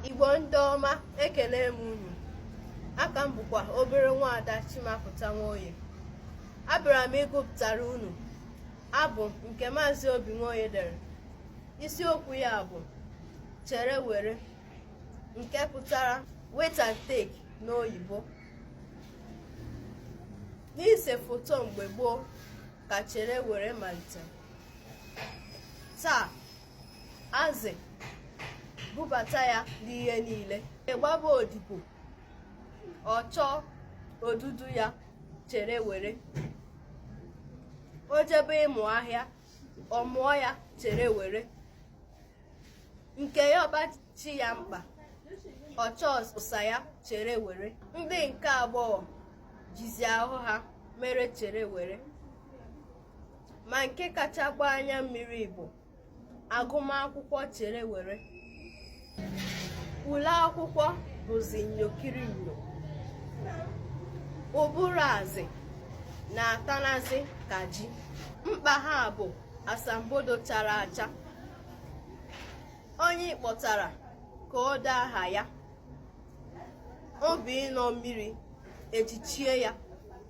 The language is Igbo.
igbo ndị ọma ekele m unu aka m bụkwa obere nwaada chimapụta nwoye abịara m ịgụpụtara unu abụ nke maazị obi nwoye dere isiokwu ya bụ chere were nke pụtara wait and take n'oyibo n'ise foto mgbe gboo ka chere were malite taa azị bubata ya n'ihe niile ịgbaba odibo ọ chọọ odudu ya chere were o jebe ịmụ ahịa ọ mụọ ya chere were nke yọba chi ya mkpa ọ chọọ ụsa ya chere were ndị nke agbọghọ jizi ahụ ha mere chere were ma nke kacha agba anya mmiri bụ agụmakwụkwọ chere were ule akwụkwọ bụzi nyokiri nyo ụbụrụ azị na-atanazi ka ji mkpa ha bụ asambodo chara acha onye kpọtara ka o dee aha ya obi ịnọ mmiri ejichie ya